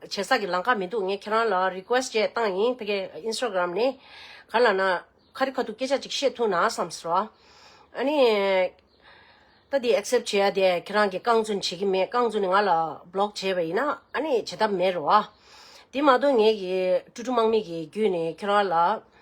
བྱེད་ས་གི་ལང་ཀ་མི་འདུག་ངས་ཁྱེད་རང་ལ Request བཅས་བཏང་ཡིན་ཕ་གི Instagram ནས་ག་ལ་ན་ཁ་རི་ཁ་ཐུག་སྐད་ཆ་ཅིག་བཤད་ཐུག་ན་བསམ་སོ། ཨ་ནི། ད་དེ Accept བྱས་ཡ་དེ་ཁྱེད་རང་གི་རྐང་བཙུན་བྱེད་ཀྱི་མེད་རྐང་བཙུན་ནི་ང་ལ Block བྱས་པ་ཡིན་ན་ཨ་ནི་བྱེད་ཐབས་མེད་རོ། དེ་མ་གཏོགས་ངས་ཀྱི་ཀྲུ་ཀྲུ་དམག་མི་གི་རྒྱུད་ནས་ཁྱེད་རང་ལ།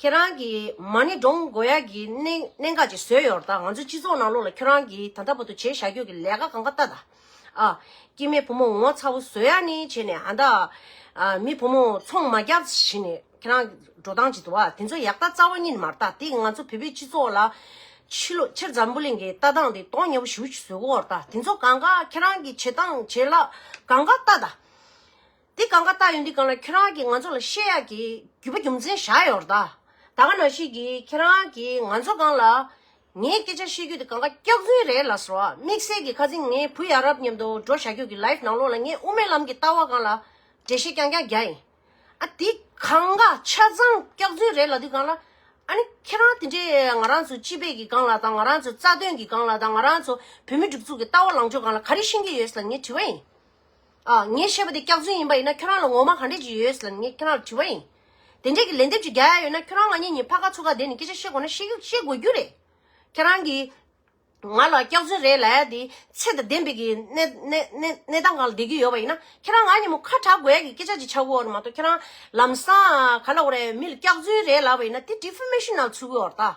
ཁྱེད་རང་གིས་མ་ཎི་འབྲོང་མགོ་ཡག་གི་གནད་འགག་ཅིག་བཟོས་ཡོད་ད། ང་ཚོའི་སྤྱི་ཚོགས་ནང་ལོགས་ལ་ཁྱོད་རང་གིས་ད་ལྟ་བར་དུ་བྱས་བཞག་རྒྱུ་གི་ལས་ཀ་གང་ག་ལྟ་ད། ཨ། སྐྱེས་མེད་བུ་མོ་ངོ་ཚ་བོ་བཟོ་ཡག་ནི་བྱས་ནས་ཨ་ད། མི་བུ་མོ་ཚོང་མ་རྒྱག་བྱས་ནས་ཁྱེད་རང་འགྲོ་སྟངས་ཅིག་འདུག་ཨ། དེ་ཚོ་ཡག་ད་རྩ་བ་ཉིད་མ་རྟ་དེ་ང་ཚོ་བོད་པའི་སྤྱི་ཚོགས་ལ། ཕྱི་ལོ་ཕྱིར་འཛམ་བུ་གླིང་གི་ལྟ་སྟངས་དེ་དོག་ཉེ་བོ་ཞུ་བཟོས་གོ་ཨོ་ད་དེ་ཚོ་གང་ག་ཁྱེད་རང་གིས་བྱས་སྟངས་བྱས་ལག་གང་ག་ལྟ་ད། འདི་གང་ག་ལྟ་ཡོད་འདི་གང་ལ་ཁྱེད་རང་གིས་ང་ཚོ་ལ་བཤད་ཡག་གི་རྒྱུ་བ་རྒྱུ་མཚན་བཞག་ཡོད་རེད་དཱ། ད་ག་ནང་ཤེས་གི་ཁྱེད་རང་གིས་ང་ཚོ་གང་ལ། ངའི་སྐད་ཆ་བཤད་རྒྱུ་དེ་གང་ག་སྐྱག་རྫུན་རེད་ལ་ཟེར་བ་དམིགས་བསལ་གི་ཁ་ཚིག་ངའི་བུ་ཡ་རབས་མཉམ་དུ་འགྲོ་བྱ་ཁྱོད་ཀྱི་ལའིབ་ནང་ལོག་ལ་ངས་དབུ་མའི་ལམ་གྱི་ལྟ་བ་གང་ལ་འགྲེལ་བཤད་རྐྱང་རྐྱང་རྒྱག་ཡིན། ཨ་འདི་གང་ག་ཆ་ཚང་སྐྱག་རྫུན་རེད་ལ་འདི་གང་ལ། ཨ་ནི་ཁྱེད་རང་དེ་འདྲས་ང་རང་ཚོ་སྤྱི་པས་གི་གང་ལ་དང་ང་རང་ཚོའི་རྩ་དོན་གི་གང་ལ་དང་ང་རང་ཚོ་བོད་མི་སྒྲིག་འཛུགས་ཀྱི་ལྟ་བ་ལངས་ཕྱོགས་གང་ལ་ག་རེ་ཤེས་ཀྱི་ཡོད་ལ་ངས་དྲི་བ་ཡིན། ཨ། ངས་བཤད་པ་དེ་སྐྱག་རྫུན་ཡིན་པ་ཡིན་ན་ཁྱོད་རང་ལ་ངོ་མ་ག་འདྲས་ཀྱི་ཡོད་ཟེར་ནས་ངས་ཁྱོད་རང་ལ་དྲི་བ་ཡིན། དེ་འདྲས་ཀྱི་ལན་འདེབས་ཀྱི་རྒྱ་ཡ་ཡོད་ན་ཁྱོད་རང་ང་གཉིས་གཉིས་ཕ་ག་ཚུ་ག་བསྡད་ནས་སྐད་ཆ་བཤད་དགོས་ན་བཤད་རྒྱུ་བཤད་དགོས་རྒྱུ་རེད། ཁྱེད་རང་གིས་ང་ལ་སྐྱག་རྫུན་རེད་ལ་ཡ་དེ་ཚད་དང་ལྡན་པའི་གི་གནས་གནས་གནས་སྟངས་གང་ལ་བསྡད་ཀྱི་ཡོད་པ་ཡིན་ན་ཁྱེད་རང་ང་གཉིས་མོ་ཁ་གྲག་དགོས་ཡ་གི་སྐད་ཆ་ཅིག་ཆགས་དགོས་ཨོ་རེད་མ་གཏོགས་ཁྱེད་རང་ལམ་སང་ག་ལ་འོ་རེད་མི་ལ་སྐྱག་རྫུན་རེད་ལབ་པ་ཡིན་ན་དེ་དྲི་བྷི་མེ་ཤི་ནའི་ཚུལ་གྱིས་འོ་རེད་ད།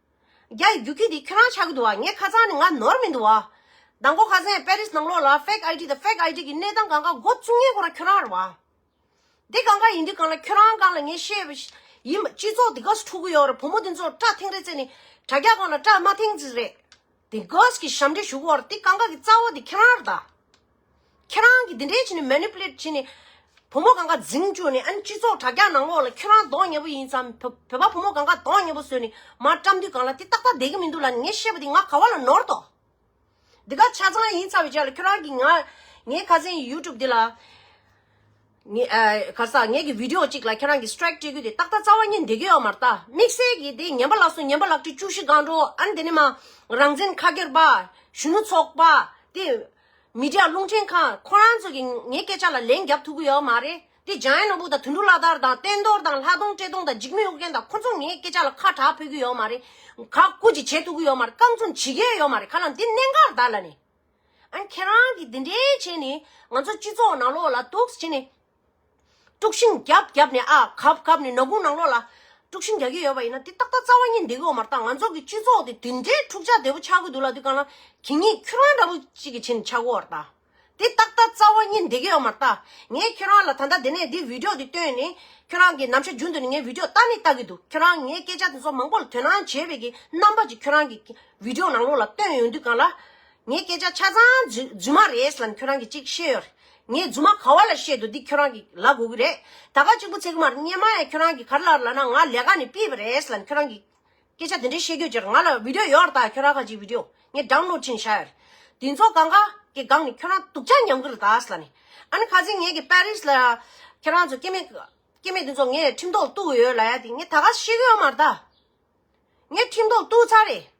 རྒྱ་ཡི་རྒྱུག་ཁྱི་འདི་ཁྱོད་རང་ཆགས་ཀྱི་འདུག་བ་ངའི་ཁ་རྩང་ནི་ང་ནོར་མི་འདུག་བ། ཟླ་འགོ་ཁ་ཟན་པེ་རིས་ནང་ལོགས་ལ fake ID དང fake ID གི་གནས་སྟངས་གང་ག་འགོ་བཙུགས་ཉན་གོ་ར་ཁྱོད་རང་རེད་བ། དེ་གང་ག་ཡིན་དུས་གང་ལ་ཁྱོད་རང་གང་ལ་ངས་ཤེས་བ་ཡིན་བ་སྤྱི་ཚོགས་འདི་ག་སུ་ཕྲུག་གུ་ཡོད་རེད་བུ་མོ་འདི་ཚོར་སྐྲ་ཐེངས་རེ་བཙལ་ནས་དྲ་རྒྱ་གང་ལ་སྐྲ་དམའ་ཐེངས་རེ་བཙལ། དེ་ག་ས་གི་ཞབས་འདྲེ་ཞུགས་བ་རེད་དེ་གང་ག་གི་རྩ་བ་འདི་ཁྱོད་རང་རེད་ད། ཁྱེད་རང་གིས་འདི་འདྲས་བྱས་ནས Manipulate བྱས་ནས་བུ་མོ་གང་ག་འཛིང་བཅུག་ནས་ཨ་ནི་སྤྱི་ཚོགས་དྲ་རྒྱ་ནང་ལོགས་ལ་ཁྱོད་རང་གདོང་ངེ་པོ་ཡིན་ཙམ་བོད་པ་བུ་མོ་གང་ག་གདོང་ངེ་པོ་བཟོས་ནས་མར་བཀྲམ་དུས་གང་ལ་དེ་ཏག་ཏག་བསྡད་ཀྱི་མི་འདུག་ལ་ནི་ངས་བཤད་པ་དེ་ང་ག་བ་ལ་ནོར་དོགས་འདི་ག་ཆ་ཚང་ཡིན་ཚར་བའི་ཆ་ལ་ཁྱོད་རང་གིས་ང་ངའི་ཁ་ཟས YouTube འདི་ལ་ངའི་ག་ས་ངས་ཀྱི Video གཅིག་ལ་ཁྱེད་རང་གིས Strike སྤྲད་རྒྱུ་དེ་ཏག་ཏག་རྩ་བ་ཉིད་འདེད་རྒྱུ་ཡོད་མ་རེད་ད་དམིགས་བསལ་གྱིས་དེ་ཉན་པ་ལགས་སོ་ཉན་པ་ལགས་ཁྲི་བཅུ་བཞི་སྒང་དྲོ་ཨ་ནི་དེ་ནས་མ་རང་བཙན་ཁ་སྒེར་པ་གཞོན་ནུ་ཚོགས་པ་དེ། མི་དྲག་རླུང་འཕྲིན་ཁང་ཁོ་རང་ཚོ་གིས་ངའི་སྐད་ཆ་ལ་ལན་རྒྱབ་ཐུབ་ཀྱི་ཡོད་མ་རེད་དེ་ལྗང་ཡེ་ནོར་བུ་དང་དུད་འགྲོ་བླ་དར་དང་བསྟན་རྡོར་དང་ལྷ་སྟོང་བཀྲས་སྟོང་དང་འཇིགས་མེད་ཨུ་རྒྱན་དང་ཁོ་ཚོ་ངའི་སྐད་ཆ་ལ་ཁ་གྲགས་ཕོད་ཀྱི་ཡོད་མ་རེད་ག་ཀུ་ཅི་བྱེད་ཐུབ་ཀྱི་ཡོད་མ་རེད་རྐང་འཛུམ་བྱེད་ཀྱི་ཡོད་མ་རེད་ག་ལ་འདི་གནད་འགག་རྡ་ལ་ནས་ཨ་ཁྱེད་རང་གིས་འདི་འདྲའི་བྱས་ནས་ང་ཚོ་སྤྱི་ཚོགས་ནང་ལོག་ལ་དུགས་བྱེད་ནས། དཀྲུགས་ཤིང་རྒྱབ་རྒྱབ་ནས་ཨ་གབ་གབ་ནས་ནག་ཁུང་ནང་ལོགས་ལ་དཀྲུགས་ཤིང་རྒྱག་གི་ཡོད་པ་ཡིན་ན་དེ་ཏག་ཏག་རྩ་བ་ཉིད་འདི་གོ་མ་རྟག་ང་ཚོ་གི་སྤྱི་ཚོགས་དེ་དེ་འདྲའི་འཁྲུག་ཆ་དེ་པོ་ཆགས་གི་འདུག་ལ་དུས་གང་ལ་གི་ངས་ཁྱོད་རང་འདྲ་པོ་གཅིག་གི་ཕྱི་ནས་ཆགས་གོ་བར་གདའ། དེ་ཏག་ཏག་རྩ་བ་ཉིད་འདི་གོ་མ་རྟག་ངས་ཁྱོད་རང་ལ་ད་ལྟ་དེ་ནས་འདི་བིདེའོ་འདི་བཏོན་ནས་ཁྱོད་རང་གི་ནམ་ཕྱེད་རྒྱུན་དུ་ནས་ངས་བིདེའོ་ལྟ་ནི་ལྟ་གི་འདུག་ཁྱོད་རང་ངས་སྐད་ཆ་དེ་ཚོ་མང་པོ་ལ་དོན་སྣང་བྱས་པའི་གི་རྣམ་པ་ཅིག་ཁྱོད་རང་གི་བིདེའོ་ནང་ལོགས་ལ་བཏོན་ཡོང་དུས་གང་ལ་ངའི་སྐད་ཆ་ཆ་ཚང་རྫུན་མ་རེད་ལ་ཁྱོད་རང་གིས་གཅིག་ཤེས་ཡོད་རེད། ངས་རྫུན་མ་ག་བ་ལ་བཤད་འདུག་འདི་ཁྱོད་རང་གིས་ལ་གོ་གི་རེད། ད་ག་གཅིག་པུ་ཚེ་དམར་སྙེ་མ་ཡ་ཁྱོད་རང་གིས་གར་ལ་ལ་ན་ང་ལས་ཀ་ནས་སྤིས་པ་རེད་ལ་ཁྱོད་རང་གིས་སྐད་ཆ་དེ་འདྲའི་བཤད་ཁྱོད་ཅེར་ང་ལ་བིདོ་ཡོད་རེད་ད་ཁྱོད་རང་ག་གཅིག་བིདོ་ངས་སྒྲང་ནོར་ཕྲིན་བྱ་ཡོད་རེད། དེ་ཚོ་ག་འགའ་གི་སྒང་ནས་ཁྱོད་རང་དུག་ཆ་ཉམས་གི་རེད་ད་ལ་ནས། ཨ་ནི་ག་ཚེ་ངས་གི་པར་རིས་ལ་ཁྱོད་རང་ཚོ་སྐྱེ་མེད་སྐྱེ་མེད་དེ་ཚོ་ངས་ཁྲིམས་ཐོག་གཏུག་གི་ཡོད་ལ་ཡ་དེ་ངས་ད་ག་ཤེས་གི་ཡོད་མ་རེད་ད། ངས་ཁྲིམས་ཐོག་གཏུག་ཚར་རེད།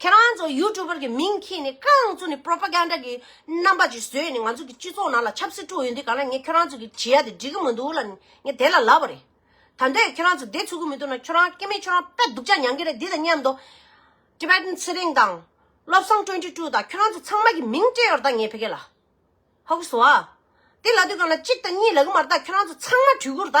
ཁྱེད་རང་ཚོ་ཡུ་ཀྲུ་བར་གྱི་མིང་གིས་ནི་ཁྱེད་རང་ཚོ་ནི་པོར་པ་གན་ར་གྱི་རྣམ་པ་ཅིག་བཟོས་ནས་ང་ཚོ་གི་སྤྱི་ཚོགས་ནང་ལ་ཆབ་སྲིད་དཀྲུགས་ཡོད་འདི་ག་ན་ངས་ཁྱེད་རང་ཚོ་གི་བྱི་ཡ་དེ་འགྲིག་གི་མི་འདུག་ལ་ངས་དེ་ལ་ལབ་པ་རེད་ད་འདོད་ཁྱེད་རང་ཚོ་དེ་ཚུགས་གི་མི་འདུག་ན་ཁྱོད་རང་སྐྱེ་མེད་ཁྱོད་རང་དཔེ་སྡུག་ཅག་མྱང་གི་རེད་འདི་དང་མཉམ་དུ། Tibetan ཚེ་རིང་དང། བློ་བཟང་ཀྲོན་ཀྲི་ཀྲུའུ་དང་ཁྱོད་རང་ཚོ་ཚང་མ་གྱི་མིང་སྤྲད་ཡོར་ད་ངས་ཕེ་གེ་ལ། ཧོ་ཀི་སུ་ཨ། དེ་ལ་དུས་གང་ལ་གཅིག་དང་གཉིས་ལ་གི་མར་ད་ཁྱོད་རང་ཚོ་ཚང་མ་བྲུས་གུར་ད།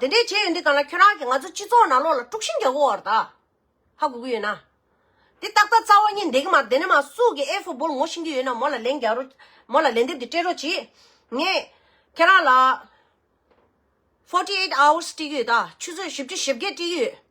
དེ་འདྲའི་བྱས་ཡོད་འདི་ག་ན་ཁྱོད་རང་གིས་ང་ཚོ་སྤྱི་ཚོགས་ནང་ལོག་ལ་དཀྲུགས་ཤིང་རྒྱག་གོ་བར་ད་ཧ་གོ་གི་ཡོད་ན། འདི་ཏག་ཏག་རྩ་བ་གཉིས་འདེགས་མ་དེ་ནས་མ་སུ་གི་ཨེ་ཧྥུ་སྦོལ་ངོ་ཤེས་ཀྱི་ཡོད་ན་མོ་ལ་ལན་རྒྱག་རོ། མོ་ལ་ལན་འདེབས་དེ་སྤྲད་རོགས་གྱིས། ངས་ཁྱེད་རང་ལ། Forty Eight Hours སྤྲད་ཀྱི་ཡོད་ད་ཆུ་ཚོད་བཞི་བཅུ་བཞི་བརྒྱད་སྤྲད་ཀྱི་ཡོད།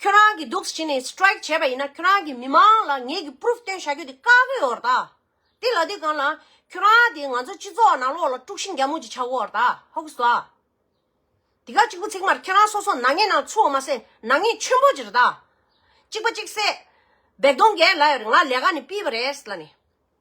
ཁྱོད་རང་གིས་སྡུག་བྱས་ནས Strike བྱས་པ་ཡིན་ན་ཁྱོད་རང་གིས་མི་མང་ལ་ངེད་ཀྱིས Proof སྟོན་བྱ་རྒྱུ་དེ་དཀའ་གི་ཡོད་ད། དེ་ལ་དུས་གང་ལ། ཁྱོད་རང་དེ་ང་ཚོ་སྤྱི་ཚོགས་ནང་ལོགས་ལ་དཀྲུག་ཤིང་རྒྱ་མོ་ཅིག་ཆགས་གོ་ད་ཧོ་གི་སོ། དེ་ག་གཅིག་པུ་ཚིག་མར་ཁྱོད་རང་སོ་སོ་ནག་ཉེས་ནང་ཚུད་བ་མ་ཟད་ནག་ཉེས་ཆེན་པོ་ཅིག་རེད་ད། གཅིག་པ་གཅིག་བསད། བེག་དོང་རྒན་ལ་ཡོད་རེད་ང་ལས་ཀ་ནས་སྤིས་པ་རེད་ལ་ནི།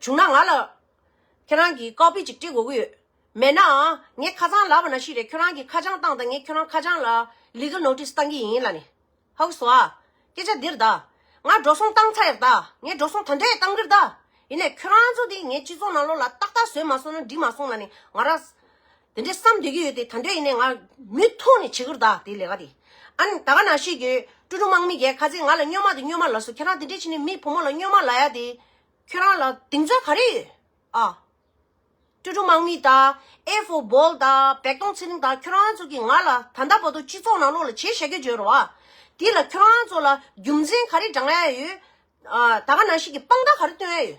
བྱུང་ན་ང་ལ། ཁྱེད་རང་གིས་ཀའོ་པེ་ཅིག་སྤྲི་དགོས་ཀྱི་ཡོད། མེད་ནའང། ངས་ཁ་ཚང་ལབ་པ་ན་ཤི་རེད་ཁྱོད་རང་གིས་ཁ་བྱང་བཏང་དང་ངས་ཁྱོད་རང་ཁ་བྱང་ལ། Legal Notice། བཏང་གི་ཡིན་ལ་ནི། ཧཱུྃ་བསྭོ། སྐད་ཆ་འདིར་གདའ། ང་འགྲོ་སོང་བཏང་ཚར་ཡག་གདའ། ངས་འགྲོ་སོང་ད་འདྲས་བཏང་གིར་གདའ། ཡིན་ནས་ཁྱོད་རང་ཚོ་འདི་ངའི་སྤྱི་ཚོགས་ནང་ལོགས་ལ་ཏག་ཏག་བཟོས་མ་སོང་ན་འགྲིག་མ་སོང་ལ་ནི་ང་རང། དེ་འདྲའི་བསམ་སྡོད་ཀྱི་ཡོད་དེ་ད་འདོད་ཡིན་ནའི་ང་མུས་ཐུག་ནས་བྱེད་ཁུར་ད་དེ་ལས་ཀ་དེ་ཨཱ་ད་ག་ནང་ཤེས་རྒྱུ་ཀྲུ་ཀྲུ་དམག་མི་རྒྱལ་ཁ་ཟས་ང་ལ་སྨྱོན་མ་དེ་སྨྱོན་མ་ལ་སོ་ཁྱེད་རང་དེ་འདྲའི་བྱེད་ནས་མི་བུ་མོ་ལ་སྨྱོན་མ་ལ་ཡ་དེ་ཁྱོད་རང་ལ་དེང་རྩ་ག་རེ་ཡོད་ཨཱ། ཀྲུ་ཀྲུ་དམག་མི་ད་ཨེ་ཧྥོ་བོལ་ད་བེག་ཏོང་ཚེ་རིང་ད་ཁྱོད་རང་ཚོ་གི་ང་ལ་ད་ད་བོ་ཏོ་སྤྱི་ཚོགས་ནང་ལོག་ལ་བྱས་བཞག་གི་བརྗོད་རོགས་ཨཱ་དེ་ལ་ཁྱོད་རང་ཚོ་ལ་རྒྱུ་མཚན་ག་རེ་བགྲང་ཨེ་ཡོད་ཨཱ་ད་ག་ནང་ཤེས་ཀྱི་དཔང་རྟགས་ག་རེ་སྟོན་ཨེ་ཡོད།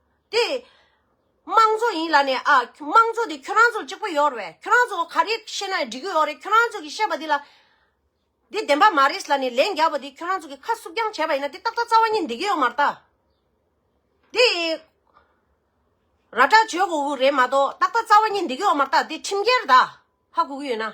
དེ། དམངས་གཙོ་ཡིན་ལ་ནས་ཨ། དམངས་གཙོ་དེ་ཁྱོད་རང་ཚོ་གཅིག་པོ་ཡོད་རེད། ཁྱོད་རང་ཚོ་ག་རེ་བཤད་ན་འགྲིག་གི་ཡོད་རེད་ཁྱོད་རང་ཚོ་གི་བཤད་པ་དེ་ལ། དེ་བདེན་པ་མ་རེད་ལ་ནས་ལན་རྒྱབ་པ་དེ་ཁྱོད་རང་ཚོ་གི་ཁ་བསུབ་རྐྱང་བྱས་པ་ཡིན་ན་དེ་ཏག་ཏག་རྩ་བ་ཉིད་འདེགས་གི་ཡོད་མ་རེད། དེ། ར་སྤྲ་བྱོས་གོ་གི་རེད་མ་གཏོགས་ཏག་ཏག་རྩ་བ་ཉིད་འདེགས་གི་ཡོད་མ་རེད་དེ་ཁྲིམས་འགལ་རེད། ཧ་གོ་གི་ཡོད་ན།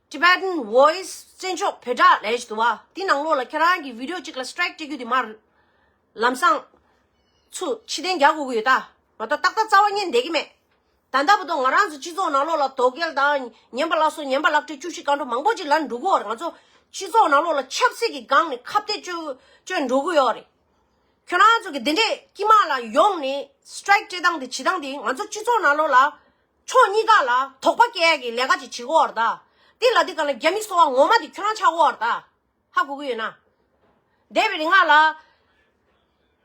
Tibetan Voice བཙན་བྱོལ་བོད་དྲ་ལས་དུ་བ་དེ་ནང་ལོགས་ལ་ཁྱེད་རང་གི Video གཅིག་ལ Strike སྤྲད་རྒྱུ་དེ་མར། ལམ་སང། ཚུ་ཕྱི་གཏན་རྒྱག་དགོས་ཀྱི་ཡོད་ད། ང་ད་ཏག་ཏག་རྩ་བ་བསྙེན་བསྡད་ཀྱི་མེད། ད་ལྟ་བུ་དོ་ང་རང་ཚོ་སྤྱི་ཚོགས་ནང་ལོགས་ལ་དོ་གལ་དང་ཉན་པ་ལགས་སོ་ཉན་པ་ལགས་ཁྲི་བཅུ་བཞི་སྐར་འགྲོ་མང་པོ་ཅིག་ལ་འགྲོ་གི་ཡོད་རེད་ང་ཚོ་སྤྱི་ཚོགས་ནང་ལོགས་ལ་ཆབ་སྲིད་ཀྱི་སྒང་ནས་ཁ་བརྡའི་སྤྱོད་སྤྱོད་འགྲོ་གི་ཡོད་རེད། ཁྱོད་རང་ཚོ་གི་འདི་འདྲས་ཀྱི་མ་ལ་ཡོང་ནས Strike སྤྲད་སྟངས་དེ་བྱེད་སྟངས་དེ་ང་ཚོ་སྤྱི་ཚོགས་ནང་ལོགས་ལ་ཕྱོགས་གཉིས་ཀ་ལ་དོགས་པ་སྐྱེ་ཡ་གི་ལས་ཀ་ཅིག་བྱེད་དགོས་བར་ད། འདི་ལ་འདི་ག་ལ་རྒྱ་མི་སོ་བ་ངོ་མ་དེ་ཁྱོད་རང་ཆགས་དགོས་བར་ད། ཧ་གོ་གི་ཡོད་ན། འདས་པའི་རིག་སྔགས་ལ།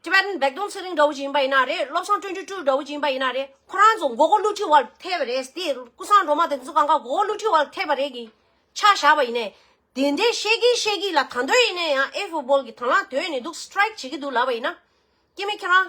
Tibetan Baekdom ཚེ་རིང་འདྲ་བོ་ཅིག་ཡིན་པ་ཡིན་ན་རེད་བློ་བཟང་སྤྲུལ་འདྲུལ་སྤྲུལ་འདྲ་བོ་ཅིག་ཡིན་པ་ཡིན་ན་རེད་ཁོ་རང་ཚོ་མགོ་སྐོར་བསླུ་བྲིད་བར་ཐལ་བ་རེད་དེ་སྐུ་བཟང་སྒྲོལ་མ་དེ་ཚོ་གང་ག་མགོ་སྐོར་བསླུ་བྲིད་བར་ཐལ་བ་རེད་གི། ཆ་བཞག་པ་ཡིན་ནས། དེ་འདྲས་བཤད་གི་བཤད་གི་ལ་ད་འདོད་ཡིན་ནས་ཡང་ཨེ་ཧྥུ་སྦོལ་གི་དང་བླངས་དོད་ནས་འདུག Strike བྱེད་གི་འདུག་ལབ་པ་ཡིན་ན། སྐྱེ་མེད་ཁྱོད་རང།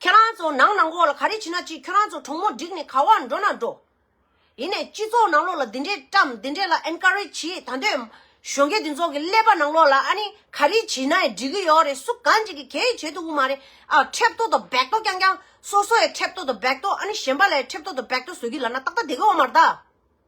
ཁྱེད་རང་ཚོ་ནང་ནང་གོག་ལ་ག་རེ་བྱེད་ན་བྱེད་ཁྱོད་རང་ཚོ་གྲོགས་མོ་བསྒྲིགས་ནས་ག་བར་འགྲོ་ན་འགྲོ། ཡིན་ནས་སྤྱི་ཚོགས་ནང་ལོག་ལ་འདི་འདྲས་བཀྲམ་འདི་འདྲས་ལ Encourage བྱེད་ད་འདོད་གཞོན་སྐྱེས་འདི་ཚོགས་ཀྱི་ཀླད་པ་ནང་ལོག་ལ་ཨ་ནི་ག་རེ་བྱེད་ནའི་འགྲིག་གི་ཡོག་རེད་སུ་གང་ཅིག་གི་གས་ཡིས་བྱེད་ཐུབ་གི་མ་རེད་ཨ་འཁྲེབ་ཏོ་དང་བེག་ཏོ་རྐྱང་རྐྱང་སོ་སོའི་འཁྲེབ་ཏོ་དང་བེག་ཏོ་ཨ་ནི་གཞན་པ་ལའི་འཁྲེབ་ཏོ་དང་བེག་ཏོ་བཟོས་གི་ལ་ན་ཏག་ཏག་དེ་གི་འོག་མར་ད།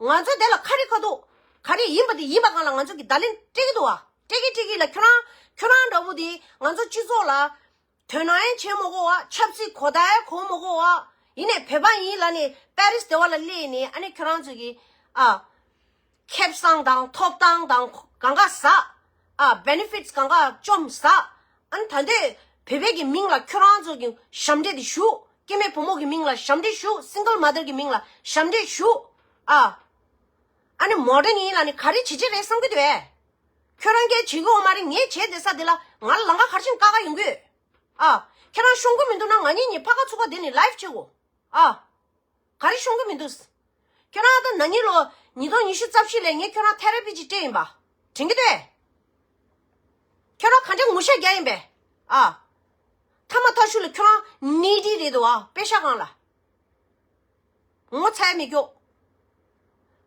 ང་ཚོས་དེ་ལ་ཁ་རི་ཁ་ཐུག་ག་རེ་ཡིན་པ་དེ་ཡིན་པ་གང་ལ་ང་ཚོས་ཀྱི་བརྡ་ལན་སྤྲད་ཀྱི་འདུག་བ་སྤྲད་གི་སྤྲད་གི་ལ་ཁྱོད་རང་ཁྱོད་རང་འདྲ་བོ་དེ་ང་ཚོ་སྤྱི་ཚོགས་ལ་དོན་ནའང་བྱེད་མ་གོ་བ་ཆབ་སྲིད་གོ་བརྡའང་གོ་མ་གོ་བ་ཡིན་ནས་བོད་པ་ཡིན་ལ་ནས་པར་རིས་དེ་བ་ལ་སླེབས་ནས་ཨ་ནེ་ཁྱོད་རང་ཚོས་ཀྱི་ཨ། ཁེབས་སངས་དང་ཐོབ་ཐང་དང་གང་ག་ཟག་ཨ། Benefits། གང་གཱ་བཅོམ་བཟའ། ཨན། ད་འདོད་བོད་པའི་གི་མིང་ལ་ཁྱོད་རང་ཚོ་གི་ཞབས་འདྲེད་དེ་ཞུ། སྐྱེས་མེད་བུ་མོ་གི་མིང་ལ་ཞབས་འདྲེད་ཞུ Single Mother གི་མིང་ལ་ཞབས་འདྲེད་ཞུ་ཨ། ཨ་ནི་མོ་རང་ཡིན་ལ་ནི་ག་རེ་བྱེད་ཀྱི་རེད་བསམ་གི་འདུག་ཨེ། ཁྱོད་རང་སྐད་བྱེད་གི་འོ་མ་རེད་ངས་བྱས་དེ་ས་དེ་ལ་ང་ལ་ལང་ཀ་གར་ཕྱིན་ཀ་ཀ་ཡིན་གི། ཨ། ཁྱེད་རང་ཤོང་གི་མི་འདུག་ན་ང་གཉིས་གཉིས་ཕ་ཀ་ཚུགས་ཀ་དེ་ནི Live བྱེད་གོ་ཨ། ག་རེ་ཤོང་གི་མི་འདུག། ཁྱོད་རང་ད་ནངས་ཉིན་ལོ་ཉིས་སྟོང་ཉི་ཤུ་རྩ་བཞི་ལས་ངས་ཁྱོད་རང་ཐེ་རེ་པི་ཅི་སྤྲེལ་ཡིན་པ་དྲན་གི་རེད། ཁྱོད་རང་ག་འདྲའི་ངུ་ཤ་རྒྱག་ཡིན་པས་ཨ། ཐ་མ་ཐ་ཤུ་ལ་ཁྱོད་རང་ནི་དི་རེད་འདུག་ཨ་པེ་ཤ་གང་ལ། ངོ་ཚའི་མི་སྐྱོག།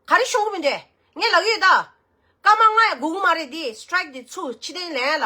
ག་རེ་ཤོང་གི་མི་འདུག་ངས་ལག་ཡོད་ད། སྐར་མ་ལྔ་ཡ་དགུ་དགུ་མ་རེད་དེ strike དེ་ཚུ་ཕྱི་ཐེན་ལན་ལ།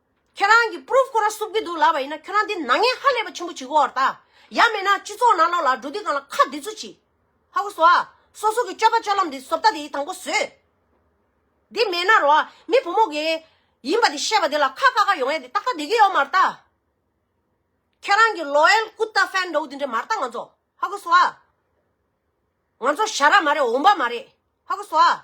ཁྱེད་རང་གིས Proof ཁོ་ར་བསུབ་ཀྱི་འདུག་ལབ་པ་ཡིན་ན་ཁྱོད་རང་འདི་ནག་ཉེས་ཧ་ལས་པ་ཆེན་པོ་བྱེད་དགོས་བར་ད། ཡ་མེད་ན་སྤྱི་ཚོགས་ནང་ལོག་ལ་འགྲོ་དུས་གང་ལ་ཁ་འདི་ཚོ་ཅི། ཧ་གོ་སོ་ཨ། སོ་སོ་གི་སྤྱོད་པ་སྤྱོད་ལམ་འདི་ཟོབ་ད་དེ་དང་པོ་བཟོས། འདི་མེད་ན་རོ་ཨ་མི་བུ་མོ་དགེ། ཡིན་པ་འདི་བཤད་པ་འདི་ལ་ཁ་བཀག་ཁ་ཡོང་ཡ་འདི་ཏག་ཏག་འདི་གི་ཡོད་མར་ད། ཁྱེད་རང་གི Loyal Kutta Fan འདྲ་བོ་འདི་འདྲ་མར་ད་ང་ཚོ་ཧ་གོ་སོ་ཨ། ང་ཚོ་བྱ་ར་མ་རེད་འོང་པ་མ་རེད་ཧ་གོ་སོ་ཨ།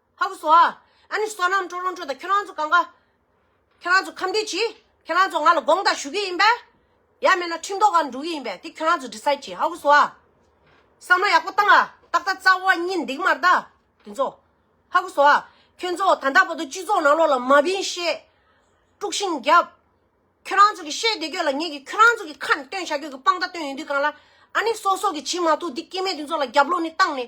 ཧ་གོ་སོ། ཨ་ནི་བསོད་ནམས་སྤྲོ་རོང་ཁྲོད་དང་ཁྱོད་རང་ཚོ་གང་ག། ཁྱོད་རང་ཚོ་ཁམས་འདྲིས་གྱིས། ཁྱོད་རང་ཚོ་ང་ལ་དགོངས་དག་ཞུ་གི་ཡིན་པས། ཡ་མེད་ན་ཁྲིམས་ཐོག་ག་འགྲོ་གི་ཡིན་པས་དེ་ཁྱོད་རང་ཚོ་འདྲི་ས་གྱིས་ཧ་གོ་སོ། བསམ་བློ་ཡག་པོ་བཏང་ཨ། ཏག་ཏག་རྩ་བ་གཉིས་འདེགས་མར་གདའ། དེ་ཚོ། ཧ་གོ་སོ། ཁྱོད་ཚོ་ད་ལྟ་བར་དུ་སྤྱི་ཚོགས་ནང་ལོག་ལ་མ་བིན་ཤེས། དཀྲུགས་ཤིང་རྒྱབ། ཁྱོད་རང་ཚོ་གི་བཤད་བདེ་ཁྱོད་ལ་ངེད་ཀྱིས་ཁྱོད་རང་ཚོ་གི་ཁ་ནས་བཏོན་བྱ་ཁྱོད་ཀྱི་དཔང་རྟགས་བཏོན་ཡོད་དུས་གང་ལ། ཨ་ནི་སོག་སོག་གི་བྱིན་མ་ཐུག་འདི་སྐྱེ་མེད་དེ་ཚོ་ལ་རྒྱབ་ལོག་ནས་བཏང་ནས།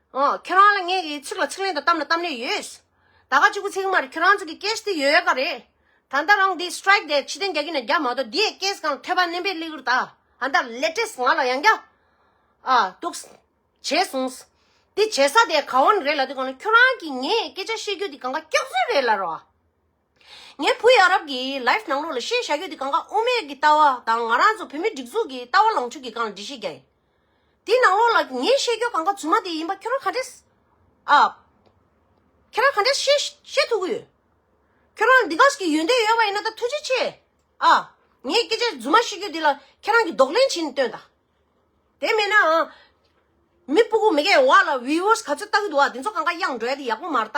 ཁྱོད་རང་ལ་ངས་ཚིག་ལ་ཚིག་ལན་དང་གཏམ་ལ་གཏམ་ལན་ཡོད། ད་ག་གཅིག་པུ་ཚིག་མ་རེད་ཁྱོད་རང་ཚོ་གི་སྐད་དེ་ཡོད་ག་རེད། ད་ལྟ་རང་འདི Strike དེ་ཕྱི་གཏན་རྒྱག་གི་ན་རྒྱག་མ་གཏོགས་དེའི་སྐད་གང་ཐོས་པ་བརྣན་པའི་གླེགས་རི་དག་ད་ལྟ Latest ང་ལ་ཡང་རྒྱག་ཨ་འདུག། བྱས་སོང། དེ་བྱས་ས་དེ་ག་འོ་ན་རེད་ལ་དེ་གོང་ན་ཁྱོད་རང་གིས་ངས་སྐད་ཆ་བཤད་རྒྱུ་དེ་གང་ག་སྐྱག་རྫུན་རེད་ལ་རོ་ཨ། ངའི་བུ་ཡ་རབས་ཀྱི Life ནང་ལོགས་ལ་བཤད་བྱ་ཡོད་དེ་གངྒཱ་དབུ་མེད་ཀྱི་ལྟ་བ་དང་ང་རང་ཚོ་བོད་མི་སྒྲིག་འཛུགས་ཀྱི་ལྟ་བ་ལོངས་སྤྱོད་ཀྱི་སྒང་ལ་འབྲི་བཤད་རྒྱ་ཡིན། དེའི་ནང་ལོགས་ལ་ངས་བཤད་རྒྱུ་གངྒཱ་རྫུན་མ་དེ་ཡིན་པ་ཁྱོད་རང་ག་འདྲས་ཨ། ཁྱེད་རང་ག་འདྲས་ཤེས་ཤེས་ཐུབ་ཀྱི་ཡོད། ཁྱོད་རང་འདི་ག་ཟིག་གི་ཡོན་ཏན་ཡོད་པ་ཡིན་ན་ད་ཐུགས་རྗེ་ཆེ་ཨ། ངས་སྐད་ཆ་རྫུན་མ་བཤད་རྒྱུ་དེ་ལ་ཁྱེད་རང་གིས་ལྡོག་ལན་བྱིན་སྟོན་དང། དེ་མེད་ནའང། མི་སྤུ་གུ་མི་གའི་བ་ལ Viewers ག་ཚོད་ལྟ་གི་འདུག་ཨ་དེ་ཚོ་གངྒཱ་དབྱངས་འགྲོས་དེ་ཡག་པོ་མ་རྟ།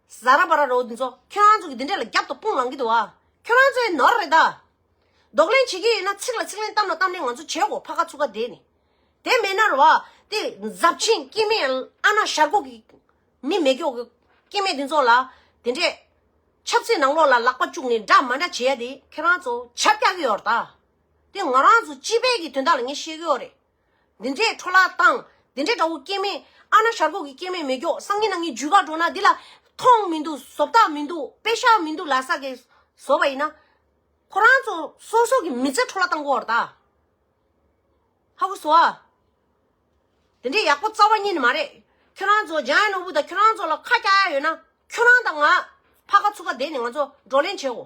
བཟའ་ར་བ་ར་རོ་འདི་ཚོ་ཁྱོད་རང་ཚོ་གི་འདི་འདྲས་ལ་རྒྱབ་ཏུ་དཔུང་ལང་གི་འདུག་ཨ། ཁྱོད་རང་ཚོའི་ནོར་རེད་ད། རྡོག་ལེན་བྱེད་ཀྱི་ཡོད་ན་ཚིག་ལ་ཚིག་ལན་གཏམ་ལ་གཏམ་ལན་ང་ཚོ་བྱེད་གོ་ཕ་ཁ་ཚུ་ཁ་དེ་ནི། དེ་མེད་ན་ར་བ་དེ་འཛབ་ཆེན་སྐྱིད་མེད་ཨ་ན་ཤར་ཁུག་གི་མི་མེད་སྐྱོ་སྐྱིད་མེད་འདི་ཚོ་ལ་དེ་འདྲས། ཆབ་སྲིད་ནང་ལོག་ལ་ལག་པ་བཅུག་ནས་འདྲ་མ་འདྲ་བྱེད་ཡ་དེ་ཁྱོད་རང་ཚོ་བྱབ་རྒྱག་གི་ཡོད་ར་ད། དེ་ང་རང་ཚོ་སྤྱི་པའི་གི་དོན་དག་ལ་ངས་བཤད་གི་ཡོད་རེད། འདི་འདྲའི་འཕྲོ་བརླག་བཏང། འདི་འདྲའི་དགྲ་བོ་སྐྱེ་མེད། ཨ་ན་ཞར་གོག་གི་སྐྱེ་མེད་མེད་སྒྱོགས་སང་ཉིན་ན་ངའི་ཇུས་ཁ་འགྲོ་ན་འདི་ལ། ཐོང་མི་འདུག་ཟོབ་ཐག་མི་འདུག་དཔེ་ཤག་མི་འདུག་ལ་ས་གས་བཟོ་བ་ཡིན་ན། ཁོ་རང་ཚོ་སོ་སོ་གི་མི་ཚེ་འཕྲོ་བརླག་བཏང་གོ་ར་ད། ཧ་གོ་ཟོ་ཨ། འདི་འདྲའི་ཡག་པོ་རྩ་བ་ཉིད་ནི་མ་རེད། ཁྱོད་རང་ཚོ་ལྗང་ཡ་ནོར་བུ་དང་ཁྱོད་རང་ཚོ་ལ་ཁ་སྐྱག་ཡ་ཡོད་ན། ཁྱོད་རང་དང་ང། ཕ་ཁ་ཚུགས་ཁ་བསྡད་ནས་ང་ཚོ་བགྲོ་གླེང་བྱེད་འོ།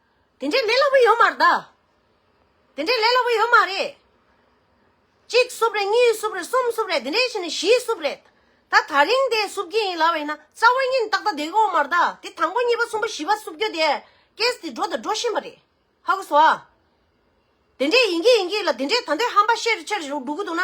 དེ་འདྲའི་ལས་སླ་པོ་ཡོད་མར་གདའ། དེ་འདྲའི་ལས་སླ་པོ་ཡོད་མ་རེད། གཅིག་བསུབ་རེད་གཉིས་བསུབ་རེད་གསུམ་བསུབ་རེད་དེ་འདྲའི་ཞིག་ནས་བཞི་བསུབ་རེད། ད་ད་རིང་དེ་བསུབ་ཀྱི་ཡིན་ལབ་བས་ན་རྩ་བ་ཉིད་ཏག་ཏག་བསྡད་གོ་མར་གདའ་དེ་དང་པོ་གཉིས་པ་གསུམ་པ་བཞི་པ་བསུབ་རྒྱུ་དེ་ཀེས་དེ་འགྲོ་དང་འགྲོ་བཞིན་པ་རེད་ཧ་གོ་སོ། དེ་འདྲའི་ཡིན་གྱི་ཡིན་གྱི་ལ་དེ་འདྲའི་ད་འདོད་ཧམ་པ་ཤེས་རེ་ཆེ་རེ་འགྲོ་གི་འདུག་ན།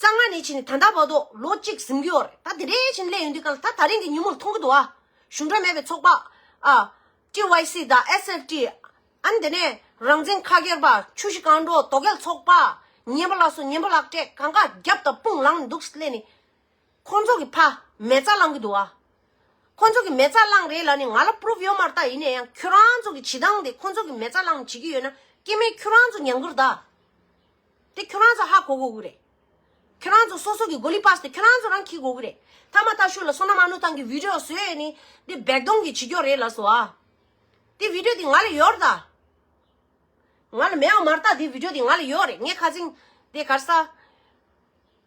གཙང་མ་ནས་བྱས་ནས་ད་ལྟ་བར་དུ་ལོ་གཅིག་ཟིན་གྱི་ཡོད་རེད་ད་དེ་རིང་བཞིན་སླེབས་ཡོང་དུས་ག་ལ་ད་ད་རིང་གི་ཉིན་མོར་མཐོང་གི་འདུག་ཨ། གཞུང་འབྲེལ་མེད་པའི་ཚོགས་པ། ཨ། TYC དང SFT། ཨན་དེ་ནས་རང་བཙན་ཁ་སྒེར་པ། ཆུ་བཞི་རྐང་འགྲོ་དོ་གལ་ཚོགས་པ། ཉན་པ་ལ་སོ་ཉན་པ་ལག་སྤྲད་གང་ག་རྒྱབ་དང་དཔུང་ལངས་ནས་འདུག་སླད་ནི། ཁོང་ཚོ་གི་ཕ་མེ་རྩ་བླངས་གི་འདུག་ཨ། ཁོང་ཚོ་གི་མེ་རྩ་བླངས་རེད་ལ་ནི་ང་ལ Proof ཡོད་མ་རྟགས་ཡིན་ནས་ཡང་ཁྱོད་རང་ཚོ་གི་བྱེད་སྟངས་དེ་ཁོང་ཚོ་གི་མེ་རྩ་བླངས་བྱེད་ཀྱི་ཡོད་ན་སྐྱེ་མེད་ཁྱོད་རང་ཚོ་ཉམས་གུར་དག། དེ་ཁྱོད་རང་ཚོ་ཧ་གོ་དགོས་ཀྱི་རེད། ཁྱོད་རང་ཚོ་སོ་སོ་གྱི་གོ་ལི་པཱས་དེ་ཁྱོད་རང་ཚོ་རང་འཁྱེར་དགོས་ཀྱི་རེད། ཐ་མ་ཐ་ཤུ་ལ་སོ་ན་མ་ནུ་ཐང་གི་བི་རོས་བཟོས་ཡས་ནི་དེ་སྦེག་དོང་གི་བྱི་སྐྱོག་རེད་ལ་སོ་ཨ། དེ་བི་རོས་དེ་ང་ལ་ཡོད་ར་ད། ང་ལ་མེད་བ་མ་ར་ད་དེ་བི་རོས་དེ་ང་ལ་ཡོད་རེད་ངས་ཁ་ཚིང་དེ་གར་ས།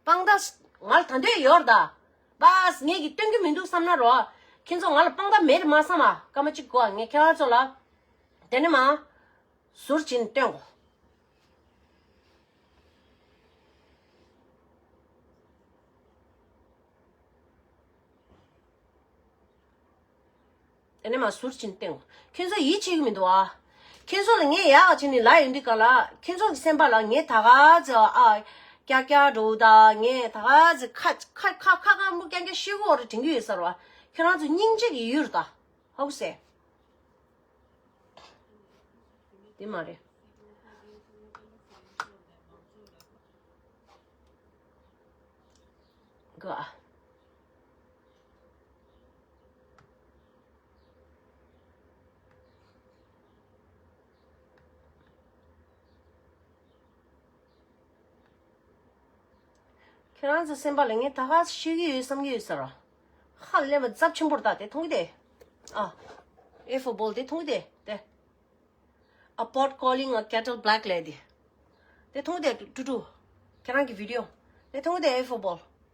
སྤང་ཟླ། ང་ལ་ད་འདོད་ཡོད་རེད། པཱས། ངེད་ཀྱིས་སྟོན་གྱི་མི་འདུག་བསམ་ན་རོགས། ཁྱེད་ཚོ་ང་ལ་སྤང་ཟླ་མེད་རེད་མ་བསམ། སྐར་མ་གཅིག་གོ་ངས་ཁྱེད་རང་ཚོ་ལ། དེ་ནས་མ། ཟུར་བྱིན་སྟོན་གོ། དེ་ནས་མ་ཟུར་ཅིང་སྟེང། ཁྱོད་ཚོ་ཡིད་ཆེས་ཀྱི་མི་འདུག་ཨ། ཁྱོད་ཚོ་ལ་ངས་ཡག་བྱས་ནས་ལ་ཡོད་འདི་ག་ལ། ཁྱོད་ཚོ་གི་སེམས་པ་ལ་ངས་ད་ག་ཟེ་བ་ཨ། ཀྱག་ཀྱག་འགྲོ་འུ་ད་ངས་ད་ག་ཟེ་ཁ་ཁ་ཁ་ཁ་ཁ་མོ་ཀྱང་ཀྱང་ཤི་བོ་རེ་དྲན་གྱི་ཡོད་ས་རུ་ཨ། ཁྱོད་རང་ཚོ་སྙིང་རྗེ་གི་ཡུལ་རུ་ད། ཧཱུྃ་བསལ། དེ་མ་རེད། གི་ཨ། ཁྱེད་རང་ཚོའི་སེམས་པ་ལ་ངས་ད་ག་ཤེས་ཀྱི་ཡོད་བསམ་གྱི་ཡོད་ས་ར་ཧ་ལས་པ་རྫབ་ཆེན་པོར་བཏགས་དེ་མཐོང་གི་དེ་ཨ་ཨེ་ཧྥུ་སྦོལ་དེ་མཐོང་གི་དེ་དེ་ཨ་པོར་ཀོ་ལིང་ཨ་ཀྱ་ཏོལ་བྷེལ་ཀ་ལེ་དེ་དེ་མཐོང་གི་དེ་ཀྲུ་ཀྲུ་ཁྱེད་རང་གི་བྷི་རི་ཡོ་དེ་མཐོང་གི་དེ་ཨེ་ཧྥུ་སྦོལ་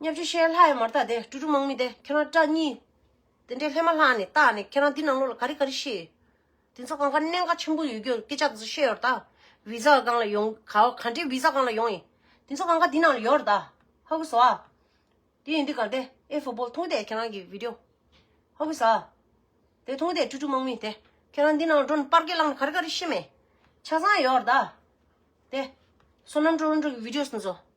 སྙ་བཅུ་ཤེལ་ལྷ་ཡི་མར་དག་དེ་ཀྲུ་ཀྲུ་དམག་མི་དེ་ཁྱེད་རང་སྐྲ་གཉིས། དེ་འདྲའི་ལྷད་མ་ལྷག་ནས་བཏགས་ནས་ཁྱེད་རང་འདི་ནང་ལོགས་ལ་ག་རེ་ག་རེ་ཤེས། དེ་ཚོ་གང་ཁ་གནད་འགག་ཆེན་པོ་ཡོད་རྒྱུ་སྐད་ཆ་དེ་ཚོ་བཤད་ཡོད་ར་དག་བི་ཛ་གང་ལ་ཡོང་ག་ག་འདྲའི་བི་ཛ་གང་ལ་ཡོང་ཡིན། དེ་ཚོ་གང་ཁ་འདི་ནང་ལ་ཡོད་ར་དག་ཧ་གི་ཟོ་ཨ། དེ་ཡིན་དུས་ག་དེ་ཨེ་ཧྥུ་སྦོལ་མཐོང་དེ་ཁྱེད་རང་གི་བི་དོ། ཧ་གི་ཟ་ཨ། དེ་མཐོང་དེ་ཀྲུ་ཀྲུ་དམག་མི་དེ་ཁྱེད་རང་འདི་ནང་ལ་འགྲོ་ནས་སྤར་སྐད་བསླངས་ནས་ག་རེ་ག་རེ་ཤེས་མེད། ཆ་ཚང་ཡོད་ར་དག་དེ། སོ་ནམ་ཀྲོ་རོ་འགྲོ་གི་བི་དོ་སི་ནི་ཟོ།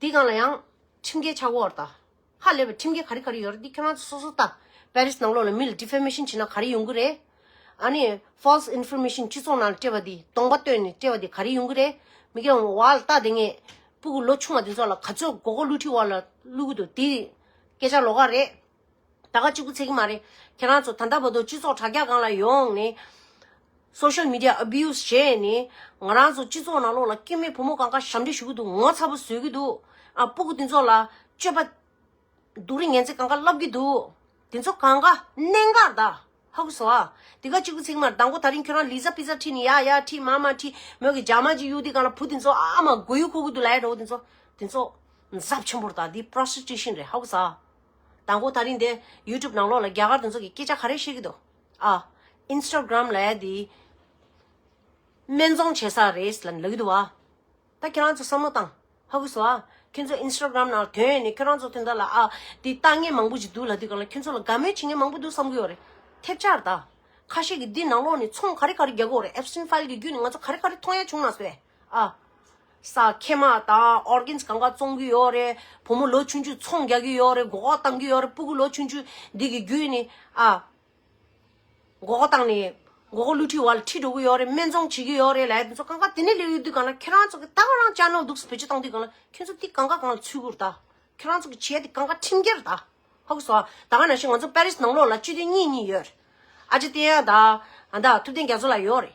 འདི་གང་ལ་ཡང་ཁྲིམས་འགལ་ཆགས་འོར་ད་ཧ་ལས་པ་ཁྲིམས་འགལ་ག་རི་ག་རི་ཡོད་རེད་འདི་ཁྱོད་རང་ཚོ་སོ་སོ་ལྟ་པའི་རིས་ནང་ལོག་ལ་མི་ལ Defamation བྱེད་ན་ག་རི་ཡོང་གི་རེད་ཨ་ནི False Information སྤྱི་ཚོགས་ནང་ལ་སྤྲད་པ་འདི་སྟོང་པ་བཏོན་ནས་སྤྲད་པ་འདི་ག་རི་ཡོང་གི་རེད་མི་དགེ་བ་བ་ལ་ལྟ་དེ་ངས་སྤུ་གུ་ལོ་ཆུང་བ་དེ་ཚོ་ལ་ག་ཚོད་མགོ་སྐོར་བསླུ་ཁྲིད་བ་ལ་བསླུ་གི་འདུག་འདི་སྐད་ཆ་ལོག་ག་རེད། ད་ག་གཅིག་པུ་ཚད་ཀྱི་མ་རེད། ཁྱེད་རང་ཚོ་ད་ལྟ་བར་དུ་སྤྱི་ཚོགས་དྲ་རྒྱ་སྒང་ལ་ཡོང་ནས། Social Media Abuse། བྱས་ནས། ང་རང་ཚོ་སྤྱི་ཚོགས་ནང་ལོགས་ལ་སྐྱེ་མེད་བུ་མོ་གང་ག་ཞབས་འདྲེན་ཞུ་གི་འདུག་ངོ་ཚ་པོ་བཟོས་ཀྱི་འདུག་ཨ་སྤུ་གུ་འདི་ཚོ་ལ་སྤྱོད་པ། སྡུག་རི་ངན་ཚད་གང་ག་ལབ་ཀྱི་འདུག་དེ་ཚོ་གང་ག་གནད་འགག་ད་ཧ་གུ་སོ་ཨ། དེ་ག་གཅིག་པུ་ཚད་ཀྱི་མ་རེད་ད་མགོ་ད་རིང་ཁྱོད་རང་ལི་ཙ་པི་ཙ་ཁྲིད་ནས་ཡ་ཡ་ཁྲིད་མ་མ་ཁྲིད་མོད་ཀྱི་འཇག་མ་ཅིག་གཡུག་དེ་གང་ལ་བུ་དེ་ཚོ་ཨ་མ་མགོ་ཡུ་འཁོར་གྱི་འདུག་ལ་ཡ་རོ་དེ་ཚོ། དེ་ཚོ། གཟབ་ཆེན་པོར་ད་འདི Prostitution རེད་ཧ་གུ་ས་ཨ། དང་པོ་ད་རིང་འདི YouTube ནང་ལོག་ལ་རྒྱ་གར་དེ་ཚོ་གི་སྐད་ཆ་ག་རེ་བཤད་གི་འདུག་ཨ། Instagram ལ་ཡ་དེ། སྨད་འཚོང་བྱེད་ས་རེད་ལ་ལབ་གི་འདུག་བ། ད་ཁྱེད་རང་ཚོ་བསམ་བློ་བཏང། ཧ་གོ་སོ་ཨ། ཁྱོད་ཚོ Instagram ནང་དོན་ཡོད་ནི་ཁྱོད་རང་ཚོ་དེ་འདྲ་ལ་ཨ། དེ་ལྟ་ངན་མང་པོ་ཅིག་འདུག་ལ་དེ་གང་ལ་ཁྱོད་ཚོ་ལ་དགའ་མོས་བྱེད་ངན་མང་པོ་འདུག་བསམ་གི་ཡོད་རེད། ཐེབས་ཆག་རེད་ད། ཁ་ཤས་ཀྱི་འདི་ནང་ལོག་ནས་ཚོང་ག་རེ་ག་རེ་རྒྱག་གི་འོ་རེད Epstein File གི་རྒྱུད་ནས་ང་ཚོ་ག་རེ་ག་རེ་མཐོང་ཡ་བྱུང་ན་ཟོས། ཨ། ས་ཁེ་མ་དང Organs གང་ག་བཙོང་གི་ཡོད་རེད། བུ་མོ་ལོ་ཆུང་ཆུང་ཚོང་རྒྱག་གི་ཡོད་རེད་མགོ་འགོག་བཏང་གི་ཡོད་རེད་སྤུ་གུ་ལོ་ཆུང་ཆུང་འདི་གི་རྒྱུད་ནི་ཨ། མགོ་འགོག་བཏང་ནས་མགོ་འགོག་བསླུ་བྲིད་བར་ལ་ཁྲིད་འགྲོ་གི་ཡོད་རེད་སྨན་བཙོང་བྱེད་ཀྱི་ཡོད་རེད་ལ་དེ་ཚོ་གང་ག་དེ་ནས་ལས་ཡོད་དུས་གང་ན་ཁྱེད་རང་ཚོ་གི་ད་གང་རང་ཅག་ནོར་འདུག་སེ་བེད་སྤྱོད་བཏང་དུས་གང་ན་ཁྱོད་ཚོ་དེ་གང་ག་གང་ལ་ཚུད་དགོས་རེད་ད། ཁྱོད་རང་ཚོ་གི་བྱས་དེ་གང་ག་ཁྲིམས་འགལ་རེད་ད། ཧོ་གི་སོ་ད་གང་ན་ཤེས་ང་ཚོ་པར་རིས་ནང་ལོགས་ལ་སྤྱི་དོན་གཉིས་གཉིས་ཡོད་རེད་ཨ་ཅེ་ཏེ་ཡང་ད་ཨ་ད་ཐུབ་བསྟན་རྒྱ་མཚོ་ལ་ཡོད་རེད།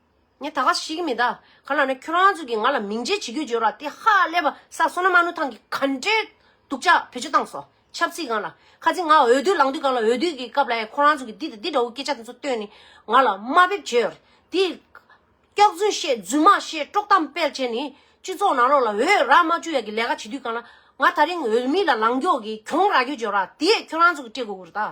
ངས་ད་ག་ཟེར་གྱི་མི་ད་ག་ལ་ན་ཁྱོད་རང་ཚོ་གིས་ང་ལ་མིང་བརྗེ་བྱེད་རྒྱུ་བརྗོད་ར་དེ་ཧ་ལས་པ་ས་སོ་ན་མ་ནུ་ཐང་གི་ག་འདྲའི་སྡུག་ཅག་བེད་སྤྱོད་བཏང་སོ་ཆབ་སྲིད་གང་ལ་ཁ་ཚིག་ང་འོས་བསྡུ་ལངས་དུས་གང་ལ་འོས་བསྡུ་གི་སྐབས་ལ་ཡང་ཁོ་རང་ཚོ་གིས་འདི་དང་འདི་འདྲ་བོ་སྐད་ཆ་དེ་ཚོ་བཏོན་ནས་ང་ལ་དམའ་འབེབས་བྱེད་ར་དེ། སྐྱག་རྫུན་བཤད་རྫུན་མ་བཤད་དཀྲོག་གཏམ་སྤེལ་བྱས་ནས་སྤྱི་ཚོགས་ནང་ལོག་ལ་འོས་ར་མ་བཅུག་ཡ་གི་ལས་ཀ་བྱེད་དུས་གང་ལ་ང་ད་རིང་འོས་མི་ལ་ལངས་རྒྱོག་གིས་གྱོང་ར་རྒྱུ་བརྗོད་ར་དེ་ཁྱོད་རང་ཚོ་གིས་སྤྲད་དགོས་གུ་རུ་ད།